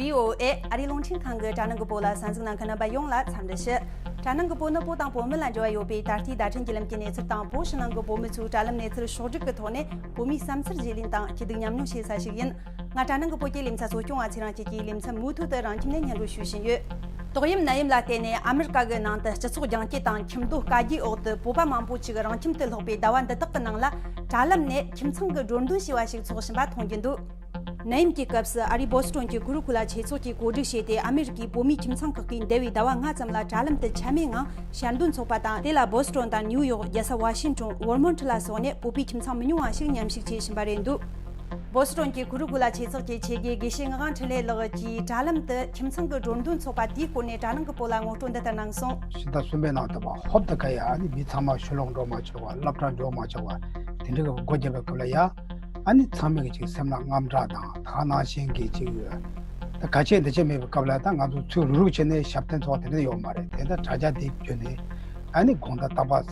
VOA ཨ་རིའི་རླུང་འཕྲིན་ཁང་གི་གྲ་ནང་གི་པོ་ལ་གསར་འཛུགས་གནང་མཁན་རྣམ་པ་ཡོངས་ལ་འཚམས་འདྲི་ཞུ། གྲ་ནང་གི་པོ་ནི་པོ་དང་པོ་མི་ལ་འབྲེལ་བ་ཡོད་པའི་ད་ལྟའི་བརྡ་འཕྲིན་རྒྱུད་ལམ་གྱི་གནས་ཚུལ་དང་པོ་ཕྱི་ནང་གི་པོ་མི་ཚོའི་དྲ་ལམ་གནས་ཚུལ་ཕྱོགས་བསྒྲིགས་ཀྱི་ཐོག་ནས་བོད་མིའི་བསམ་འཆར་བརྗེ་ལེན་དང་སྐྱིད་སྡུག་མཉམ་མྱོང་བྱེད་ས་ཞིག་ཡིན། ང་གྲ་ནང་གི་བོད་ཀྱི་གླིང་ཚ་གསོ་སྐྱོང་བ་ཚོས་རང་བཅས་ཀྱི་གླིང་ཚ་མུ་མཐུད་དུ་རང་ཁྱིམ་ནས་ཉལ་འགྲོ་ཞུ་བཞིན་ཡོད། ཏོག་དབྱིབས་ནད་ཡམས་ལ་བརྟེན་ནས་ཨ་མེ་རི་ཀ་གི་ནང་དུ་སྤྱི་ཚོགས་རྒྱང་བཀྱེད་དང་ཁྱིམ་སྡོད་བཀའ་བརྒྱུད་འོག་ཏུ་བོད་པ་མང་པོ་ཞིག་རང་ཁྱིམ་དུ་ལྷགས་པའི་ཟླ་བ་འདི་དག་གི་ནང་ལ་དྲ་ལམ་ནས་ཁྱིམ་ཚང་གི་འགྲོ་འདུན་ཞེས་བ་ཞིག་འཚོགས་བཞིན་པ་མཐོང་རྒྱུ་འདུག། ནད་ཡམས་ཀྱི་སྐབས་སུ་ཨ་རིའི་བོལ་སི་ཀྲོན་གྱི་གུ་རུ་ཁུ་ལ་ཆོས་ཚོགས་ཀྱིས་གོ་སྒྲིག་བྱས་ཏེ་ཨ་མེ་རི་ཀའི་བོད་མིའི་ཁྱིམ་ཚང་ཁག་གིས་འདས་བའི་ཟླ་བ་ལྔ་ཙམ་ལ་དྲ་ལམ་དུ་ཆད་མེད་ངང་ཞལ་འདོན་འཚོགས་པ་དང་དེ་ལ་བོལ་སི་ཀྲོན་དང་ནིའུ་ཡོག་རྒྱལ་ས་བྷ་ཤིན་ཀྲོན་བོལ་མོན་ཁྲི་ལ་སོགས་ནས་བོད་པའི་ཁྱིམ་ཚང་མི་ཉུང་བ་ཞིག་མཉམ་ཞུགས་བྱེད་བཞིན་པ་རེད་འདུག། བོད་སི་ཁྲོན་གྱི་གུ་རུ་གུ་ལ་ཆེ་ཚགས་ཀྱི་ཆེ་དགེ་དགེ་བཤེས་ངག་དབང་འཕྲིན་ལས་ལགས་ཀྱིས་དྲ་ལམ་དུ་ཁྱིམ་ཚང་གི་འགྲོ་འདུག་འཚོགས་པ་དེའི་སྐོར་ནས་དྲ་ནང་གི་བོད་ལྭ་ངོ་སྤྲོད་འདི་ལྟར་གནང་སོང། ཤིང་རྟ་གསུམ་པའི་ནང་དུ་བ་ཧོབ་ཏུ་ཀ་ཡ་ཨ་ནི་མི་ཚང་མ་ཆུ་ལོག་འགྲོ་མ་ཆོག་བ་རླབས་ཕྲ་འགྲོ་མ་ཆོག་བ་དེ་འདྲའི་སྒོ་བརྒྱབ་པའི་སྐབས་ལ་ཡ་ཨ་ནི་ཚང་མས་ཅིག་སེམས་ལ་རྔམ་སྐྲག་དང་དག་སྣང་བཞིན་གྱིས་ཅིག་ཡོད། ད་ག་བྱེད་འདི་བྱེད་མེད་པའི་སྐབས་ལ་ད་ང་ཚོ་ཚུར་རུག་རུག་བྱས་ནས་ཞབས་བརྟན་འཚོགས་པ་དེ་འདྲ་ཡོད་མ་རེད་དེ་ད་དྲ་རྒྱ་འདིའི་བརྒྱུད་ནས་ཨ་ནི་དགོངས་དག་བཏགས་པ།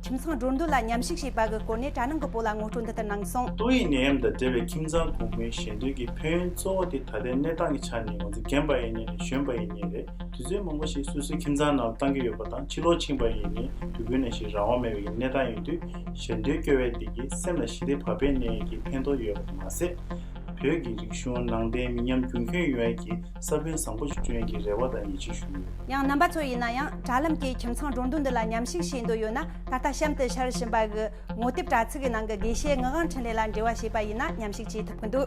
ཁྱིམ་ཚང་འགྲོ་འདུག་ལ་ཉམས་ཞིབ་བྱས་པ་གི་སྐོར་ནས་གྲ་ནང་གི་བོད་ལ་ངོ་སྤྲོད་འདི་ལྟར་གནང་སོང། ཏོག་དབྱིབས་ནད་ཡམས་དང་འབྲེལ་བའི་ཁྱིམ་ཚང་གོང་འཕེལ་ཞན་དོན་གྱི་ཕན་ཡོན་གཙོ་བོ་དེ་ད་ལྟའི་གནས་སྟངས་ཀྱི་ཆ་ནས་ང་ཚོ་རྒན་པ་ཡིན་ནས་ལས་གཞོན་པ་ཡིན་ནས་རེད་དུས་ཚོད་མང་པོ་ཞིག་སོ་སོའི་ཁྱིམ་ཚང་ནང་བཏང་གི་ཡོད་པ་དང་ཕྱི་ལོག་ཕྱིན་པ་ཡིན་ནས་དུས་ཀུན་ནས་ཞིག་རང་དབང་མེད་པའི་གནས་སྟངས་ཡིན་དུས་ཞན་དོན་སྐྱོ་བས་བདེ་སྐྱིད་སེམས་ལ་ཞི་བདེ་བག་ཕེབས་གནས་ཡིན་གྱི་ཕན་ཐོག་ཡོད་པར་མ་ཟད། བོད་ཀྱི་རིག་གཞུང་ནང་བསྟན་མི་ཉམས་རྒྱུན་འཁྱོངས་ཡོང་ཡིན་གྱི་ས་བོན་བཟང་པོ་ཞིག་སྤྱོད་ཡོན་གྱི་རེ་བ་དང་ཡིད་ཆེས་ཞུ་ཡོད། ཡང་རྣམ་པ་ཚོ་ཡིན་ན་ཡང་དྲ་ལམ་གྱི་ཁྱིམ་ཚང་སྒྲོ་འདོགས་འདི་ལ་ཉམས་ཞིག་བྱེད་འདོད་ཡོད་ན་ད་ལྟ་གཤམ་དུ་འཆར་བཞིན་པ་གི་ངོ་དེབ་དྲ་ཚིགས་གི་ནང་གི་དགེ་བཤེས་ངག་དབང་འཕྲིན་ལས་ལ་འབྲེལ་བ་བྱེད་པ་ཡིན་ན་ཉམས་ཞིག་བྱེད་ཐུབ་གི་འདུག།